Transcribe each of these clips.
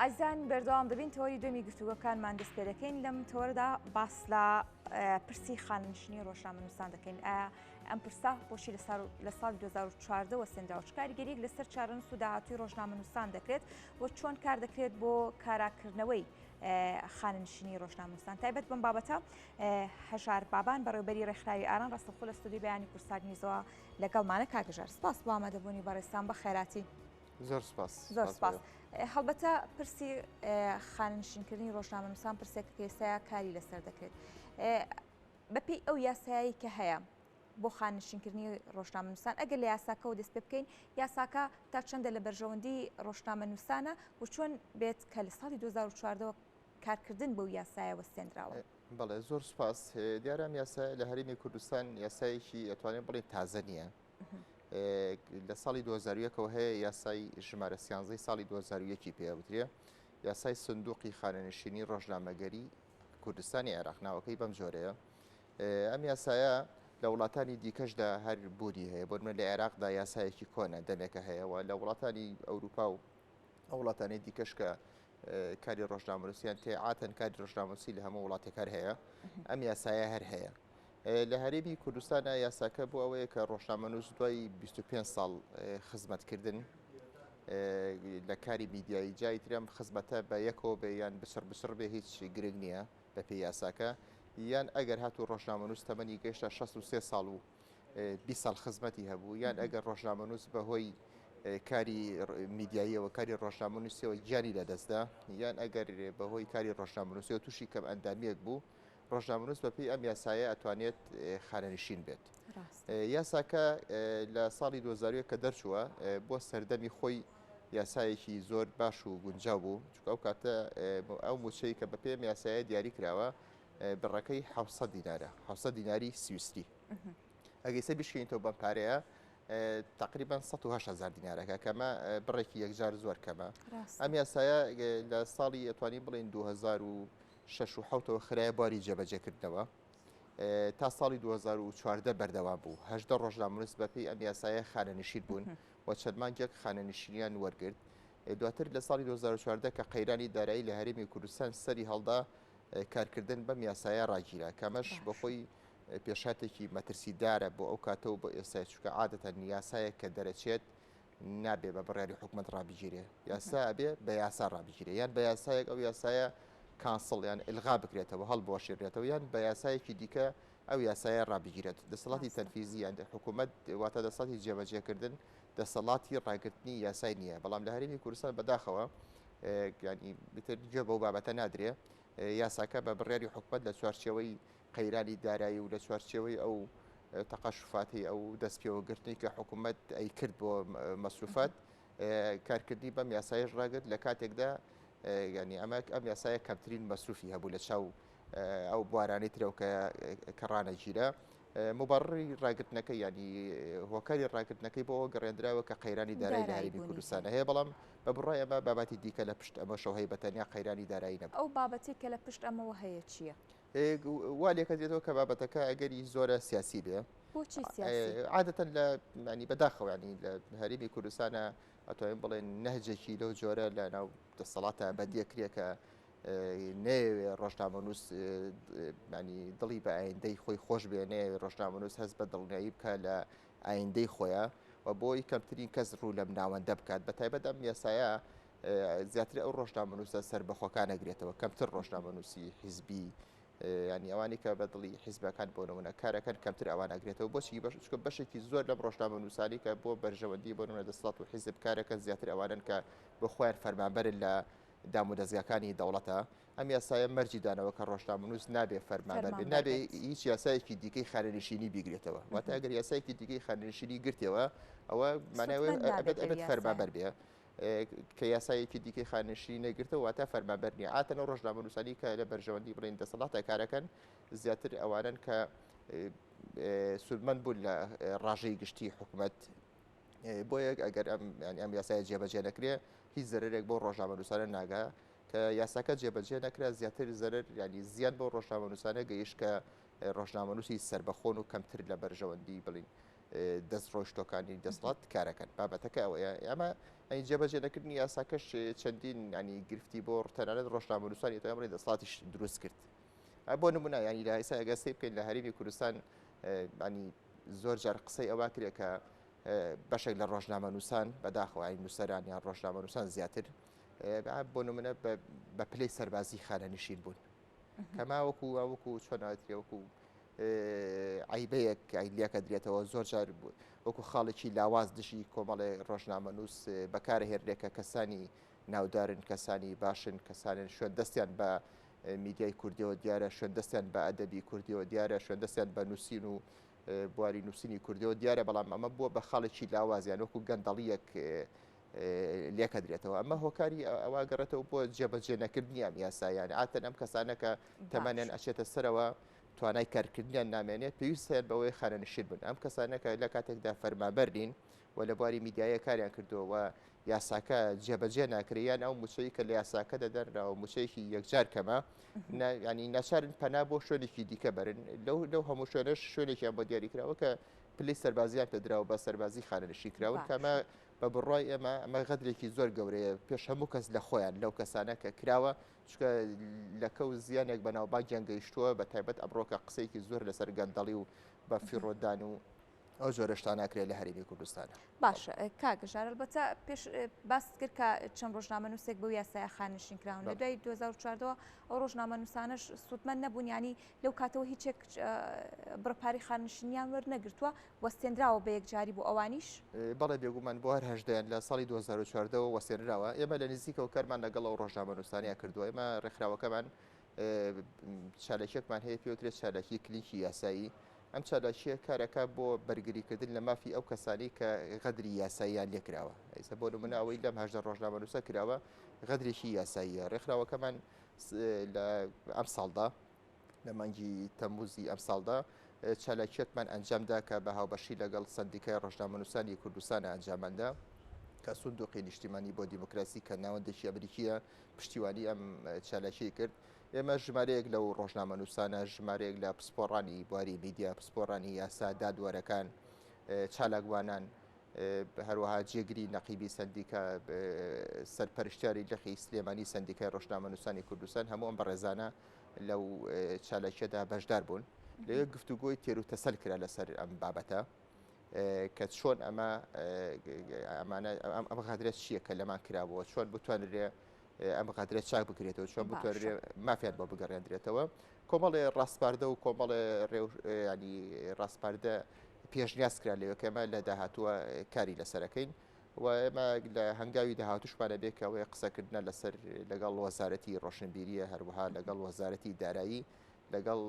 ئازان بەردەوام دەبین تەوەری دومی گفتوگەکانمان دەست پێ دەکەین لەم تۆردا باس لە پرسی خاننشینی ڕۆژنامەنووسان دەکەین ئایا ئەم پرسا خۆشی لە سال 2014 وە سندراوچ کارگەریک لەسەر چارن سووداهاتوی ڕۆژنامەنووسان دەکرێت و چۆن کار دەکرێت بۆ کاراکردنەوەی خاننشینی ڕۆژنامەنووسان تایبەت بم بابەتە هەژار بابان بەڕێوبەری ڕێکخراوی ئاران ڕاستەخۆ لە سودی بەیانی کوردستان نیزەوە لەگەڵمانە کاک ژار سپاس بۆ ئامادەبوونی بەڕێستان بە خێراتی زۆر سپاس زۆر سپاس هەڵبەتە پرسی خاننشینکردنی ڕۆژنامەنووسان پرسێک پێسەیە کاری لەسەر دەکرێت بەپی ئەو یاسایی کە هەیە بۆ خاننشینکردنی ڕۆژنامەنووسان ئەگەر لە یاساکەەوە دەست پێ بکەین یاساکە تا چەندە لە بەرژەوەندی ڕۆژنامە نووسانە و چۆن بێت کە لە ساڵی 2014ەوە کارکردن بەو یاسایە وەستێندراوە. بەڵێ زۆر سپاس دیارە ئەم یاسایە لە هەرێمی کوردستان یاسایەکی ئەتوانێت بڵێن تازە نییە لە ساڵی 2001ەوە هەیە یاسای ژمارە سیانزەی ساڵی 2001ی پێوترێ یاسای سندوقی خانەنشینی ڕۆژنامەگەری کوردستانی عێراق ناوەکەی بەم جۆرەیە ئەم یاسایە لە وڵاتانی دیکەشدا هەر بوونی هەیە بۆ من لە عێراقدا یاسایەکی کۆنە دەمێکە هەیەەوە لە وڵاتانی ئەوروپا و وڵاتانی دیکەشکە کاری ڕۆژنامەنووسی یان تێعاتەن کاری ڕۆژنامەنووسی لە هەموو وڵاتێک هەر هەیە ئەم یاسایە هەر هەیە لە هەرێمی کوردستانە یاساکە بۆ ئەوەیە کە ڕۆژنامەنووس دوای 25 ساڵ خزمەتکردن لە کاری میدیایی جای ترم خزمەتە بە یەکەوە بێ یان بسڕ بسڕ بێ هیچ گرنگ نییە بە پێی یاساکە یان ئەگەر هاتوو ڕۆژنامەنووس تەمەنی گەشتا 63 ساڵ و بیست ساڵ خزمەتی هەبوو یان ئەگەر ڕۆژنامەنووس بەهۆی کاری میدیاییەوە کاری ڕۆژنامەنووسیەوە گیانی لەدەستدا یان ئەگەر بەهۆی کاری ڕۆژنامەنووسەوە تووشی کەم ئەندامیەک بوو ڕۆژنامەنووس بەپی ئەم یاسایە ئەتوانێت خانەنشین بێت یاساکە لە ساڵی 2000 کە دەرچووە بۆ سەردەمی خۆی یاسایەکی زۆر باش و گونجاو بوو چکە ئەو کاتە ئەو موچەی کە بە پێم یاسایە دیاری کراوە بڕەکەی حەوت سەد دینارە حەوت سەد دیناری سویسری ئەگەی سەر بشکێنیتەوە بەم پارەیە تقریبان 1970 دینارەکە کەمە بڕێکی یەکجار زۆر کەمە ئەم یاسایە لە ساڵی ئەتوانی بڵین 2006ەوە خراە باری جێبەجێکردنەوە تا ساڵی 2014 بەردەوام بوو هەشدە ڕۆژنامونس بەپی ئەم یاسایە خانەنشیر بوون و چەرمانجێک خانەنشینیان وەرگرت دواتر لە ساڵی 2014 کە قەیرانی دارایی لە هەرمی کوردستان سەری هەڵدا و کارکردن بەم یاسایە ڕاگیرا کەمەش بەخۆی پێشاتێکی مەترسیدارە بۆ ئەو کاتەوە بۆ ئێستا چکە عادەتە نیاسایە کە دەرەچێت نابێ بە بڕیاری حکوومەت ڕابگیرێ یاسا بێ بە یاسا ڕابگیرێ یان بە یاسایەک ئەو یاسایە کانسڵ یان ئلغا بکرێتەوە هەڵ بۆشێنرێتەوە یان بە یاسایەکی دیکە ئەو یاسایە ڕابگیرێت دەسەڵاتی تەنفیزی یان حکوومەت واتە دەسەڵی جێبەجێکردن دەسەڵاتی ڕاگرتنی یاسای نییە بەڵام لە هەرمی کوردستان بەداخەوە گیانی بتر گوێ بەو بابەتە نادرێ یاساکە بە بڕیاری حکومت لە چوارچەوەی قەیرانی دارایی و لە چوارچەوەی ئەو تەقەشفاتی ئەو دەست پێوەگرتنی کە حکوومەت ئەی کرد بۆ مەسروفات کارکردنی بەم یاسایش ڕاگرت لە کاتێکدا ینی ئەمە ئەم یاسایە کەمترین مەسروفی هەبوو لە چاو ئەو بوارانەی ترەوکە کە ڕانەگیرە موبەڕڕی ڕاگرتنەکەی یانی هۆکاری ڕاگرتنەکەی بۆەوە گەڕێندراوە کە قەیرانی دارای لایبی کوردستانە هەیە بەڵام بە بڕای ئەمە باباتی دیکە لە پشت ئەمە شەوهەیە بە تەنیا قەیرانی دارایی نەبوو ئەو بابەتی کە لە پشت ئەمەوە هەیە چییە؟ وا لێکە دێتەوە کە بابەتەکە ئەگەری زۆرە سیاسی بێ عادەتەن لە مانی بەداخەوانی لە هەرمی کوردستانە ئەتوانین بڵێن نەهجێکی لەو جۆرە لە ناو دەسەڵاتە بەندێکرێکە نەیەوێ ڕۆژنامەنووس ینی دڵی بە ئایندەی خۆی خۆش بێ نەیەوێ ڕۆژنامەنووس هەست بە دڵنیایی بکە لە ئایندەی خۆیان و بۆی کەمترین کەس ڕوو لەم ناوەندە بکات بە تایبەت ئەم یاسایە زیاتر ئەو ڕۆژنامەنووسە سەر بەخۆکان نەگرێتەوە کەمتر ڕۆژنامەنووسی حیزبی ینی ئەوانی کە بە دڵی حیزبەکان بۆ نمونە کارەکەن کەمتر ئەوان ئەگرێتەوە بۆچی بەش چکە بەشێکی زۆر لەم ڕۆژنامە نووسانی کە بۆ بەرژەوەندی بۆ نمونە دەسڵات و حیزب کارەکەن زیاتر ئەوانن کە بۆ خۆیان فەرمانبەرن لە دامودەزگاکانی دەوڵەتە ئەم یاسایە مەرجی دانەوە کە ڕۆژنامەنووس نابێ فەرمانبەر بێت فەرمانبەر نابێ بێت. هیچ یاسایەکی دیکەی خانەنشینی بیگرێتەوە واتە ئەگەر یاسایەکی دیکەی خانەنشینی گرتەوە ئەوە مانای ئەوەیە سوودمەند نابێت ئەبێت لەو ئەبێت یاسایە. فەرمانبەر بێ ئێ، کە یاسایەکی دیکەی خانەنشینی نەگرتەوە واتە فەرمانبەر نییە عادەتەن ئەو ڕۆژنامەنووسانی کە لە بەرژەوەندی بڵێن دەسەڵاتە کارەکەن زیاتر ئەوانەن کە ئێ، ئێ، سوودمەند بوون لە ئێ، ڕاژەی گشتی حکومەت بۆ یەک ئەگەر ئەم ینی ئەم یاسایە جێبەجێ نەکرێ هیچ زەرێک بۆ ڕۆژنامەنووسانە ناگا کە یاساکە جێبەجێ نەکرا زیاتر زەرر ینی زیاد بۆ ڕۆژنامەنووسانە گەیش کە ڕۆژنامەنووسی سربەخۆن و کەمتر لە بەرژەوەندی بڵین دەست ڕۆشتۆکانی دەسڵات کارەکەن بابەتەکە ئەوەیە ئەمە ئەی جێبەجێ نەکردنی یاساکەش چەندین ینی گرفتی بۆ ڕتەنانەت ڕۆژنامەنووسانی تۆمەڕی دەسڵاتیش دروست کرد. بۆ نمونە ینی لە ئیسا ئەگەستی بکەین لە هەرمی کوردستان ینی زۆر جار قسەی ئەوە کرێ کە بەشێک لە ڕۆژنامە نووسان بەداخەوەی نووسەران یان ڕۆژنامە نووسان زیاتر بۆ نمونە بە پلەی سەربازی خانە نشین بوون کەما وەکو وەکو چۆناتری وەکو عیبەیەک ئایلیەکە درێتەوە زۆر جار وەکو خاڵێکی لاواز دژی کۆمەڵێ ڕۆژنامە نووس بەکارهێرێکە کەسانی ناودارن کەسانی باشن کەسانن شوێن دەستیان بە میدیای کوردیەوە دیارە شوێن دەستیان بە ئەدەبی کوردیەوە دیارە شوێن دەستیان بە نووسین و بواری نووسینی کوردیەوە دیارە بەڵام ئەمە بووە بە خاڵێکی لاوازیان وەکو گەندەڵیەک لێکە درێتەوە ئەمە هۆکاری ئەوە گەڕێتەوە بۆ جێبەجێ نەکردنی ئەم یاسایان ئاتەن ئەم کەسانەکە تەمانیان ئەچێتە سەرەوە توانای کارکردنیان نامێنێت پێویستیان بەوەی خانەنشین بن ئەم کەسانەکە لە کاتێکدا فەرمابەرین و لە بواری میدیایە کاریان کردووە و یاساکە جێبەجێ ناکرێت یان ئەو موچەی کە لە یاساکە دەدەنراوە موچەیەکی یەکجار کەمە ینی ناچارن پەنا بۆ شوێنێکی دیکە بەرن لەو لەو هەموو شوێنش شوێنێکیان بۆ دیاریکراوە کە پلی سەربازیان پێدراوە بە سەربازی خانەنشی کراون کەمە بە بڕای ئێمە ئەمە غەدرێکی زۆر گەورەیە پێش هەموو کەس لە خۆیان لەو کەسانە کە کراوە چکە لەکە و زیانێک بەناوبانگیان گەیشتووە بە تایبەت ئەمڕۆکە قسێکی زۆر لەسەر گەندەڵی و بە فیڕۆدان و ئەو جۆرە شتان ناکرێت لە هەرێمی کوردستان باشە کاک ژارل بەتە پێش باست کرد کە چەند ڕۆژنامە نووسێک بۆ یاسای خانشین کراون لە دوای 2014ەوە ئەو ڕۆژنامە نووسانش سوودمەند نەبوون ینی لەو کاتەوە هیچێک بڕپاری خانشنیان وەرنەگرتووە وەستێنراوە بە یەکجاری بۆ ئەوانیش بەڵێ بێگومان بۆ هەر هەشدەیان لە ساڵی 2014ەوە وەسێنراوە ئێمە لە نزیکەوە کارمان لەگەڵ ئەو ڕۆژنامە نووسانەیە کردووە ئێمە ڕێکخراوەکەمان چالاکیەکمان هەیە پێوترێت چالاکی کلیکی یاسایی ئەم چالاکیە کارەکە بۆ بەرگریکردن لە مافی ئەو کەسانی کە غەدری یاساییان لێکراوە ئەیسە بۆ منەوەی لەم هەژدە ڕۆژنامەنووسە کراوە غەدرێکی یاساییە ڕێکخراوەکەمان لە ئەم ساڵدا لە مانگی تەموزی ئەم ساڵدا چالاکیەکمان ئەنجامدا کە بە هاوبەشی لەگەڵ سندیکای ڕۆژنامەنووسانی کوردستان ئەنجاماندا کە سندوقی نیشتیمانی بۆ دیموکراسی کە ناوەندێکی ئەمریکیە پشتیوانی ئەم چالاکی کرد ئێمە ژمارەیەک لەو ڕۆژنامەنووسانە ژمارەیەک لە پسپۆڕانی بواری میدیا پسپۆرانی یاسا دادوەرەکان چالاکوانان هەروەها جێگری نەقیبی سندیکە سەرپەرشتیاری لەخی سلێمانی سندیکای ڕۆژنامەنووسانی کوردستان هەموو ئەم بەڕێزانە لەو چالاکیەدا بەشدار بوون لەوێ گفتوگۆی تێر و تەسەل کرا لەسەر ئەم بابەتە کە چۆن ئەمە ئەمانە ئەم غەدرە چییە کە لەمان کرابووە چۆن بتوانرێ ئەم غەدرە چاک بکرێتەوە چۆن بتوانرێ مافیان بۆ بگەڕێندرێتەوە کۆمەڵێ ڕاستپاردە و کۆمەڵێ ڕێوشانی ڕاستپاردە پێشنیاز کرا لەوە کەمە لە داهاتووە کاری لەسەرەکەین و ئێمە لە هەنگاوی داهاتوشمانە بێ کە ئەوەیە قسەکردە لەسەر لەگەڵ وەزارەتی ڕۆشنبیریە هەروەها لەگەڵ وەزارەتی دارایی لەگەڵ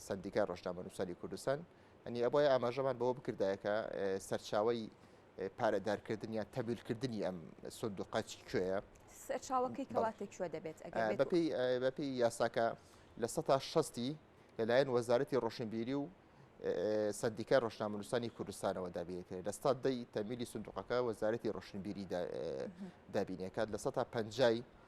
سندیکای ڕۆژنامەنووسانی کوردستان یانی ئەبوایە ئاماژەمان بەوە بکردایە کە سەرچاوەی پارەدارکردن یان تەویلکردنی ئەم سندوقە چی کوێیە سەرچاوەکەی کەواتە کوێ دەبێت بەپی یاساکە لە سە تا شەستی لەلایەن وەزارەتی ڕۆشنبیری و سندیکای ڕۆژنامەنووسانی کوردستانەوە دابێتێ لە ستا دەی تەمیلی سندوقەکە وەزارەتی ڕۆشنبیری دابینەکات لە سە تا پەنجای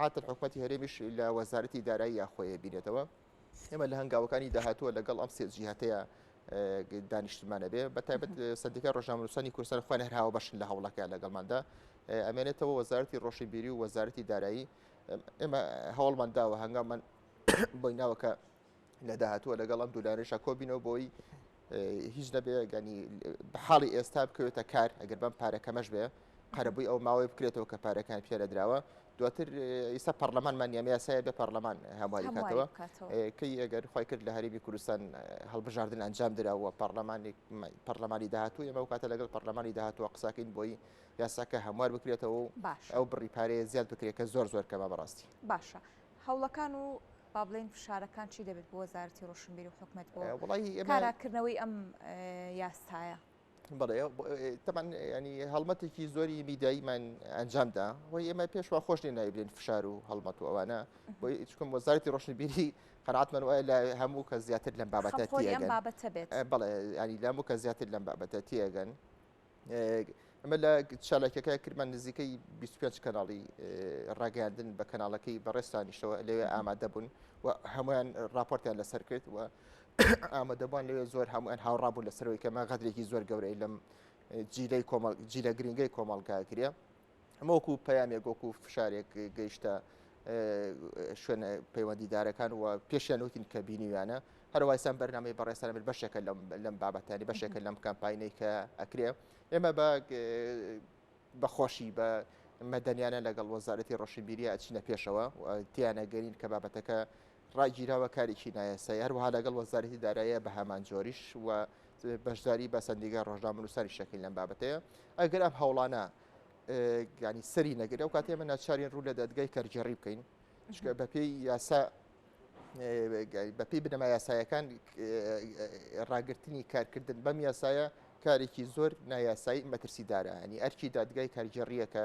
عادەتەن حکومەتی هەرێمیش لە وەزارەتی داراییە خۆی بینێتەوە ئێمە لە هەنگاوەکانی داهاتووە لەگەڵ ئەم سێ جیهاتەیە دانیشتمانە بێ بە تایبەت سندیکای ڕۆژنامەنووسانی کوردستان خوێن هەرهاوە بەشن لە هەوڵەکە لەگەڵماندا ئەمێنێتەوە وەزارتی ڕۆشنبیری و وەزارتی دارایی ئێمە هەوڵمان داوە هەنگامان بۆی ناوەکە لە داهاتووە لەگەڵ ئەم دولارێشا کۆبینەوە بۆی هیچ نەبێ گەنی حاڵی ئێستا بکەوێتە کار ئەگەر بەم پارەکەمەش بێ قەرەبووی ئەو ماوەی بکرێتەوە کە پارەکان پیاە دراوە دواتر ئیستا پەرلەمانمان نیام یاسایە بە پەرلەمان هەمواری کاتەوە کەی ئەگەر خی کرد لە هەرێمی کوردستان هەڵبژاردن ئەنجام دراوە پەرلەمانی پەرلەمانی داهاتوو ئەمە کاتە لەگەڵ پەرلەمانی داهاتوە قساکەین بۆی یاساکە هەموار بکرێتەوە ئەو بڕی پارەیە زیاد بکرێت کە زۆر زۆر کەمە بەڕاستی باشە هەوڵەکان و با بڵێن فشارەکان چی دەبێت بۆ وەزارەتی ڕۆشنبیری و حکومت بۆ کاراکردنەوەی ئەم یاسایە بڵێ تەمان ینی هەڵمەتێکی زۆری میداییمان ئەنجامدا وە ئێمە پێشوە خۆش لێ نایبرێن فشار و هەڵمەت و ئەوانە بۆ چکم وەزارتی ڕۆشنبیری قەراتمان وایە لە هەموو کە زیاتر لەم بابەتە بابەتە بێت بڵێ ینی لەموو کە زیاتر لەم بابەتە تێگەن ئەمە لە چالاکەکە کردمان نزیکەی 25 کەناڵی ڕاگەاندن بە کەناڵەکەی بەڕێستانیشەوە لەوێ ئامادە بوون و هەمویان راپۆرتیان لەسەر کرد و ئامادەبووان لەوێ زۆر هەمویان هاوڕابوو لەسەرەوەی کەمە غەدرێکی زۆر گەورەی لەم جیلەی کۆمەڵ جیلە گرنگی کۆمەڵگاگرە ئەمە وەکو پەیامێک وەکو فشارێک گەیشتە شوێن پەیوەندیدارەکان و پێشیان وتین کە بینیویانە هەروایسان بەرنامەی بەڕێستان بێت بەشێکە لەم بابەتانی بەشێکە لەم کەمپینەی کە ئەکرێ ئێمە بە بەخۆشی بە مەدەنیانە لەگەڵ وەزارەتی ڕۆشنبیریە ئەچینە پێشەوە تیانەگەرین کە بابەتەکە ڕاگیراوە کارێکی نایاسایی هەروەها لەگەڵ وەزارەتی دارایە بە هەمان جۆریش و بەشداری بە سندیگە ڕۆژنامەنووسانی شەکەین لەم بابەتەیە ئەگەر ئەم هەوڵانە گانی سەری نەگرێت و کاتێ من ناچارین ڕوو لە دەدگای کەرگێڕی بکەین چکە بەپێی یاسا بەپی بنەما یاسایەکان ڕاگررتنی کارکردن بەم یاسایە کارێکی زۆر نایاسایی مەترسی دارایانی ئەرکی دادگای کارگێڕیەکە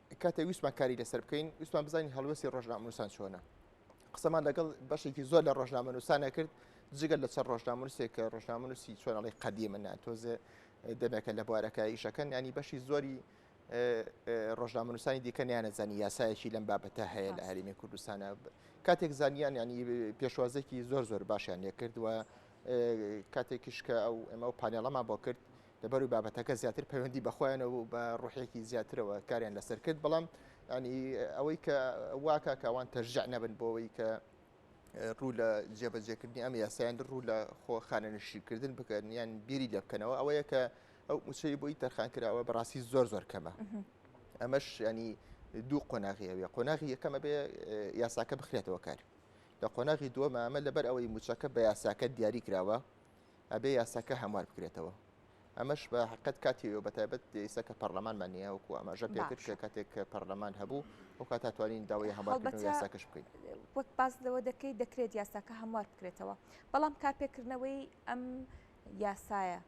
کاتێک ویستمان کاری لەسەر بکەین ویستمان بزانین هەڵوێستی ڕۆژنامەنووسان چۆنە قسەمان لەگەڵ بەشێکی زۆر لە ڕۆژنامەنووسانە کرد جگەل لە چەند ڕۆژنامونوسێک کە ڕۆژنامونوسی چۆنەڵی قەدی من ناتۆزێ دەمێکە لە بوارەکە ئیشەکەن ینی بەشی زۆری ڕۆژنامونوسانی دیکە نیانەزانی یاسایەکی لەم بابەتە هەیە لە هەرمی کوردستانە کاتێک زانیان ینی پێشوازێکی زۆر زۆر باشیان لێکردووە کاتێکیش کە ئەو ئەمە و پانێڵەما بۆ کرد لەبەروی بابەتەکە زیاتر پەیوەندی بەخۆیانەوە و بە ڕوحێکی زیاترەوە کاریان لەسەر کرد بەڵام ینی ئەوەی کە واکە کاوان تەرجع نەبن بۆەوەی کە ڕوو لە جێبەجێکردنی ئەم یاسایان ڕوو لە خۆ خانەنشیکردن بکەن یان بیری لێ بکەنەوە ئەوەیە کە ئەو موچەی بۆی تەرخان کراوە بەڕاستی زۆر زۆر کەمە ئەمەش ینی دوو قۆناغی ئەوێ قۆناغی یەکەمە بێ یاساکە بخرێتەوە کار لە قۆناغی دووەمە ئەمە لەبەر ئەوەی موچەکە بە یاساکە دیاری کراوە ئەبێ یاساکە هەموار بکرێتەوە ئەمەش بە حقت کاتیەوە بە تایبەت ئێستا کە پەرلەمانمان نیە وکو ئەمەژە پێکرد کە کاتێک پەرلەمان هەبوو و کات توانین داوای هەمبەتەکەش بکەین وەک باز لەوە دەکەی دەکرێت یاساکە هەموار بکرێتەوە بەڵام کارپێکردنەوەی ئەم یاسایە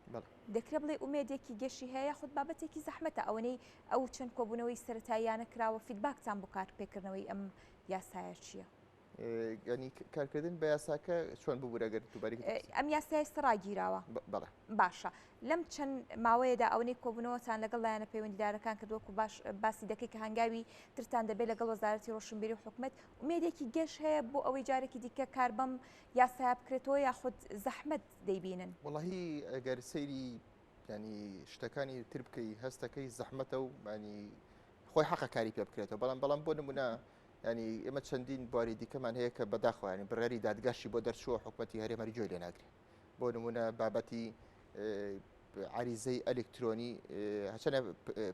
دەکرێ بڵێ ئومێدێکی گەشی هەیە خود بابەتێکی زەحمەتە ئەوەنەی ئەو چەند کۆبوونەوەی سەتاییانە کراوە فیدباکتان بۆ کار پێکردنەوەی ئەم یاسایە چییە؟ ینی کارکردن بە یاساکە چۆن ببوورەگەر دوباری ئەم یاسا ئێستا ڕاگیراوە بەڵێ باشە لەم چەند ماوەیەدا ئەوەی کۆبوونەوەتان لەگەڵ لایەنە پەیوەندیدارەکان کە دۆکو باش باسی دەکەی کە هەنگاوی ترتان دەبێت لەگەڵ وەزارەتی ڕۆشنبیری و حکومت ومێدێکی گەش هەیە بۆ ئەوەی جارێکی دیکە کار بەم یاسا بکرێتەوە یاخود زەحمت دەیبینن وڵی ئەگەر سەیری ینی شتەکانی تر بکەی هەستەکەی زەحمەتە و مانی خۆی حەقە کاری پێ بکرێتەوە بەڵام بەڵام بۆ نمونە یانی ئێمە چەندین بواری دیکەمان هەیە کە بەداخوایانی بڕیاری دادگاشی بۆ دەرچووە حکوومەتتی هەرێمەری جۆی لێناگرێ بۆ نمونە بابەتی عریزەی ئەلکترۆنی هەچەنە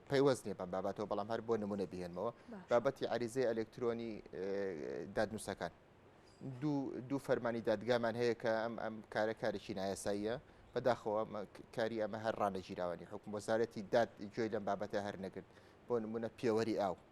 پەیوەست نیە بەم بابەتەوە بەڵام هەر بۆ نمونە بهێنمەوە بابەتی عریزەی ئەلکترۆنی دادنووسەکان دوو فەرمانی دادگامان هەیە کە ئەم ئەم کارە کارێکی نایەساییە بەداخەوە کاری ئەمە هەر ڕانەگیراوانی حکوم وەزارەتی داد گوێی لەم بابەتە هەر نەگرت بۆ نمونە پێوەری ئاو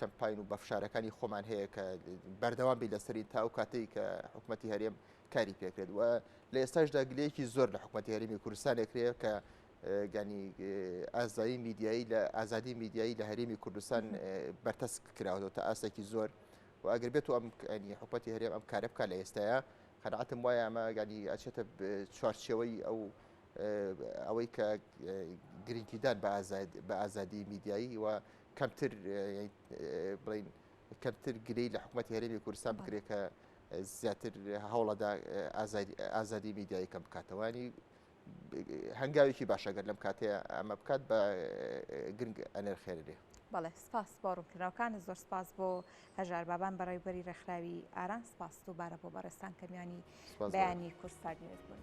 کەمپاین و بەفشارەکانی خۆمان هەیە کە بەردەوام بی لەسەری تا ئەو کاتێک کە حکوومەتتی هەرێم کاری پێکرێت و لە ئێستاشدا گلەیەکی زۆر لە حکوومەتتی هەرمی کوردستانێکرەیە کە گانی ئازایی میدیایی لە ئازادی میدیایی لە هەرێمی کوردستان بەرتەسک کراوەەوە تا ئاسێکی زۆر و ئەگەر بێت و ئەم حکوەتی هەرێم ئەم کارە بکە لە ئێستاە خەنعاتم وایە ئەمە گانی ئەچێتە چوارچەوەی ئەو ئەوەی کە گرنگیدان بە ئازادی میدیایی و کەمتر بڵین کەمتر گرێی لە حکوومەت هەرێمی کوردستان بکرێت کە زیاتر هەوڵەدا ئازادی میدیایی کەم بکاتەوانی هەنگاوێکی باشەگەر لەم کاتەیە ئەمە بکات بە گرنگ ئەنرخێنرێ بەڵێ سپاس بۆ ڕوونکراوەکانە زۆر سپاس بۆ هەژار بابان بەڕێوبەری ڕێکخراوی ئاران سپاس و بارە بۆ بەڕێستان کەمیانی بەیانی کورسپاگیرت بوون.